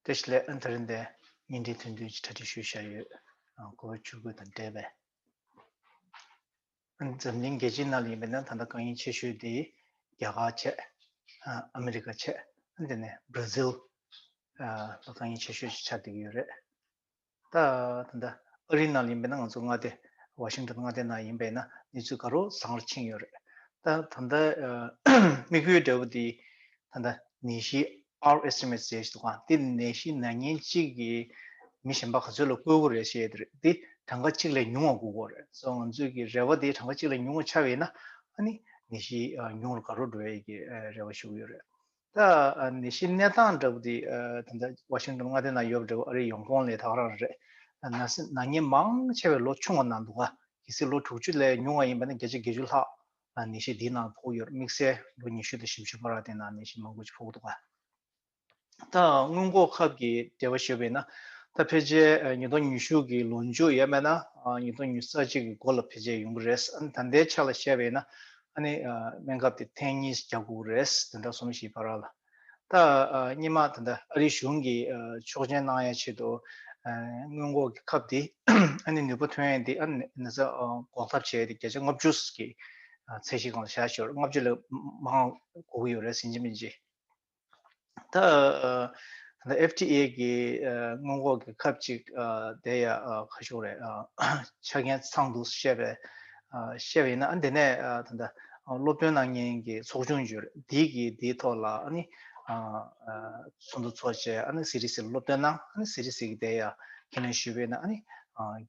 དེ་སླད་ཨནྟ་རིམ་པའི་བརྙན་འཕྲིན་ཐོན་དུས་ཀྱི་གྲ་སྒྲིག་ཞུ་བྱ་ཡོད། གོ་བོ་ཆུ་རྒོད་དང་འདྲེས་པས། འཛམ་གླིང་རྒྱལ་སྤྱིའི་ནང་ལ་ཡིན་པའི་ན་ད་ལྟ་རྐང་གཡེང་ཆེ་ཤོས་དེ་རྒྱ་གར་ཆེད། ཨ་མི་རི་ཀ་ཆེད། དེ་ནས Brazil། ལ་རྐང་གཡེང་ཆེ་ཤོས་ཤིག་ཆགས་བསྡད་ཀྱི་ཡོད་རེད། ད་ལྟ་འདི་ཨ་རིའི་ནང་ཡིན་པས་ན་ང་ཚོ་མངའ་སྡེ Washington མངའ་སྡེ་ནང་ཡིན་པས་ན་གནས་ཚུལ་དགའ་རོགས་བཟང་རོགས་ཕྱིན་ཡོད་རེད། ད་ད་ལྟ་དམིགས་ཡུལ་འབྲས་བུ་འདི་ད་ལྟ་ནད་གཞི Our estimates ཞེས་འདུག་ག་འདི་ནད་གཞི་ནག་ཉེན་གཅིག་གིས་མི་གཞན་པ་ག་ཚོད་ལ་བཀོལ་དགོས་རེད་ཞེས་དེ་རེད་འདི་གྲངས་ཀ་གཅིག་ལས་ཉུང་བ་དགོས་དགོས་རེད་སོ་ང་ཚོས་ཀྱི་རེ་བ་འདི་གྲངས་ཀ་གཅིག་ལས་ཉུང་བ་ཆགས་ཡོད་ན་ཨ་ནི་ནད་གཞི་ཉུང་རུ་དགའ་རོགས་འགྲོ་བའི་ཀྱི་རེ་བ་ཞུ་གི་ཡོད་རེད། ད་ནི་གཞི་གནས་སྟངས་འདྲ་བོ་དེ་ད་ལྟ Washington མངའ་སྡེ་ན་ཡོད་པ་འདྲ་བོ་ཨ་རིའི་ཡོང་ཁོངས་ལས་ཐག་རང་རེད། ནག་ཉེས་མང་ཆེ་བའི་ལོ་ཆུང་བ་ན་འདུག་གལ་སྲིད་ལོ་དྲུག་ཅུ་ལས་ཉུང་བ་ཡིན་པ་ན་བརྒྱ་ཆ་བརྒྱད་ཅུ་ལྷག་ནད་གཞི་དེའི་ནང་ཕོག་ཡོད་དམིགས་བསལ་ལོ་ཉི་ཤུ་དང་ཞིབ་བཞི་བར་དེ་ནང་ནད་གཞི་མང་པོ་ཞིག་ཕོག་འདུག་ད་སྔོན་འགོག་ཁབ་ཀྱི་འབྲེལ་བ་ཞུས་པ་ཡིན་ན་ད་ཕལ་ཆེར་ཉིས་སྟོང་ཉི་ཤུ་གི་ལོ་མཇུག་ཡས་མས་ན་ཉིས་སྟོང་ཉི་ས་གཅིག་གི་འགོ་ལ་ཕལ་ཆེར་ཡོང་གི་རེད་ད་ལྟའི་ཆ་ལ་བཤད་པ་ཡིན་ན་ཨ་ནི་སྨན་ཁབ་དེ་ཐེངས་གཉིས་རྒྱག་དགོས་རེད་དེ་འདྲ་གསུངས་ཞེས་པ་ར་ལ། ད་སྙེ་མ་དེ་འདྲ་ཨ་རིའི་གཞུང་གིས་ཆོག་མཆན་གནང་ཡ་ཆེད་དུ་སྔོན་འགོག་གི་ཁབ་དེ་ཨ་ནི་ནུས་པ་ཐོན་ཡ་དེ་ཨ་ནི་ས་འགོག་ཐབས་བྱས་ཡ་དེ་བརྒྱ་ཆ་ལྔ་བཅུ་ཀྱི་ཚད་གཞི་གང་ལ་བྱ་ཞོར་ལྔ་བཅུ་ལས་མང་གོ་གི་ཡོད་རེད་ཟིན་གྱི་མིན་གྱི། ད FTA གི་སྔོན་འགོག་གི་ཁབ་ཅིག་དེ་ཡ་ཁ་ཤོ་རེད་ཆ་རྐྱེན་ཚང་འདུག་བཤད་པའི་བཤད་པ་ཡིན་ན་དེ་ནས་ད་ལྟ་སློབ་སྟོན་གནང་མཁན་གྱི་ཚོགས་ཆུང་བརྗོད་དེ་གིས་དེའི་ཐོག་ལ་ཚོགས་འདུ་ཚོགས་བྱས CDC ལ་སློབ་སྟོན་གནང CDC གིས་དེ་ཡ་ཁས་ལེན་ཞུས་པ་ཡིན་ན་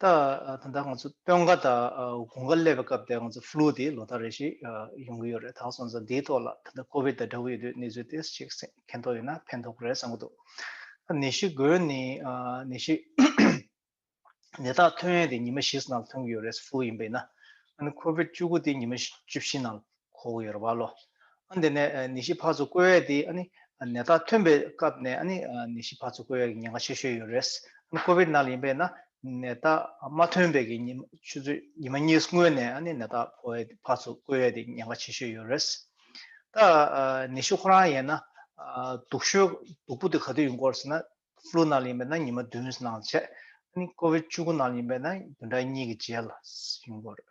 ད་ད་ལྟ་ང་ཚོ་སྟོན་ཁ་དང་དགུན་ཁ་སླེབས་པའི་སྐབས་དེར་ང་ཚོ Flu དེ་ལོ་ཟླ་རེ་བཞིན་ཡོང་གི་ཡོད་རེད་ད་སོང་ཙང་དེའི་ཐོག་ལ་ད་ལྟ COVID དང་འདྲ་བོ་ཡོད་དུས་ནད་བཅོས Test ཅིག་གན་ཐོག་ཡོད་ན་ཕན་ཐོག་གི་རེད་བསམ་གྱི་འདུག་ནད་གཞི་འགོས་ནས་ནད་གཞི་ནད་རྟགས་ཐོན་ཡས་དེ་ཉི་མ་བཞི་ཟིན་ནང་ལ་ཐོན་གྱི་ཡོད་རེད Flu ཡིན་པས་ན་ཨ་ནི COVID བཅུ་དགུ་དེ་ཉི་མ་བཅུ་བཞི་ནང་ལ་ཁོ་བོ་ཡོད་རེད་བ་ལོ། ཨ་འདི་ནས་ནད་གཞི་ཕར་ཚུར་བཀོལ་བས་དེ་ཨ་ནི་ནད་རྟགས་ཐོན་པའི་སྐབས་ནས་ཨ་ནི་ནད་གཞི་ཕར་ཚུར་བཀོལ་བས་ཀྱི་ཉེན་ཁ་ཆེ་ཤོས་ཡོད་རེད། ཨ་ནི་ཀོ་བིད་ནཱ་ལ་ཡིན་པས་ན་ནད་རྟགས་མ་ཐོན་པའི་ཀྱི་ཆུ་ཚོད་ཉི་མ་གཉིས་སྔོན་ནས་ཨ་ནི་ནད་རྟགས་ཕོ་བས་ཕར་ཚུར་བཀོལ་བས་དེ་ཉེན་ཁ་ཆེ་ཤོས་ཡོད་རེད། ད་ནད་གཞི་ཁོ་རང་ཡིན་ན་དུག་ཤོས་དུག་པོ་དེ་ག་དུས་ཡིན་སྐོར་ཟེར་ན Flu ནཱ་ལ་ཡིན་པས་ན་ཉི་མ་བདུན་ནང་བྱས། ཨ་ནི་ཀོ་བིད་བཅུ་དགུ་ནཱ་ལ་ཡིན་པས་ན་བདུན་ཕྲག་གཉིས་ཀྱི་རྗེས་ལ་ཡིན་སྐོར་རེད།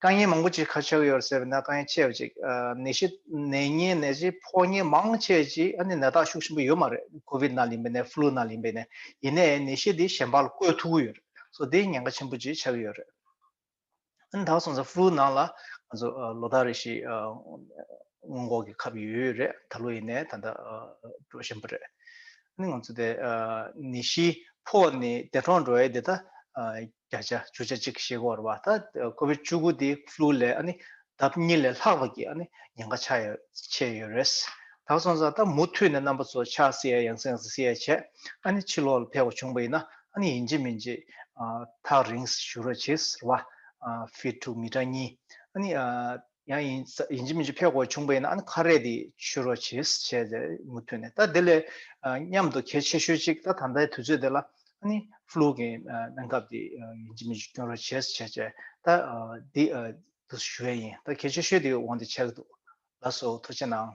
དཀའ་ཉེན་མང་པོ་ཅིག་ཁ་ཕྱོགས་ཡོད་ཟེར་བས་ན་དཀའ་ཉེན་ཆེ་བ་ཅིག་ནད་གཞི་ནད་ཉེན་ནད་གཞི་ཕོག་ཉེན་མང་ཆེ་ཅིག་ཨ་ནི་ནད་རྟགས་ཤུགས་ཆེན་པོ་ཡོད་མ་རེད་ཀོ་བིད་ནཱ་ལིན་པའི་ནད་ཧྥུ་ལུ་ནཱ་ལིན་པའི་ནད་ཡིན་ནའི་ནད་གཞི་འདི་གཞན་པ་ལ་བཀོལ་ཐུབ་ཀི་ཡོད་རེད་སོ་དེ་ཉེན་ཁ་ཆེན་པོ་ཅིག་ཆགས་ཀི་ཡོད་རེད་ཨ་ནི་ད་བར་སོང་ཙང་ཧྥུ་ལུ་ནང་ལ་ང་ཚོ་ལོ་ཟླ་རེ་ཞིག་སྔོན་འགོག་གི་ཁབ་ཡོད་ཡོད་རེད་ད་ལོ་ཡིན་ནའི་ད་ལྟ་འགྲོ་བཞིན་པ་རེད་ཨ་ནི་ང་ཚོ་དེ་ནད་གཞི་ཕོག་ནས་འདས་གྲོངས་འགྲོ་བའི་དེ་ལྟ་བརྒྱ་ཆ་བཅུ་ཆ་གཅིག་ཤེས་དགོས་རེད་བ་ད་ཁོ་བོས་བཅུ་དགུ་དེ Flu ལས་ཨ་ནི་ལྡབ་གཉིས་ལས་ལྷག་པ་གི་ཨ་ནི་ཉེན་ཁ་ཆགས་ཡོད་ཆེ་ཡོད་རེད། ད་སོང་ཙང་ད་མུ་མཐུད་ནས་རྣམ་པ་ཚོ་ཆགས་སྲིད་ཡ་ཡང་སེང་སེ་སྲིད་ཡ་བྱས་ཨ་ནི་ཕྱི་ལོག་ལ་ཕེབས་པ་བྱུང་པ་ཡིན་ན་ཨ་ནི་ཡིན་གཅིག་མིན་གཅིག་ཐག་རིང་ཞུ་རོགས་གྱིས་རེད་བ། Fit to མི་དྲག་གཉིས་ཨ་ནི་ཡང་ཡིན་ཡིན་གྱི་མིན་གྱི་ཕས་གོ་ཆུང་པོ་ཡིན་ན་ཨ་ནི་ཁ་རས་དེ་ཆུ་རོ་བྱེད་བྱས་ཏེ་མུ་མཐུད་ནས་ད་དེ་ལས་མཉམ་དུ་གལ་ཆེ་ཤོས་གཅིག་ད་ད་ལྟའི་དུས་ཚོད་དེ་ལ་ཨ་ནི Flu གི་སྨན་སྐབས་དེ་ཡིན་གྱི་མིན་གྱི་སྐྱོན་རོ་བྱེད་བྱས་བྱས་ད་དེ་དུས་སུ་ཞུ་བས་ཡིན་ད་གལ་ཆེ་ཤོས་དེ་འོང་དེ་བྱས་གི་འདུག་ལགས་སོ་ཐུགས་ཆེ་གནང།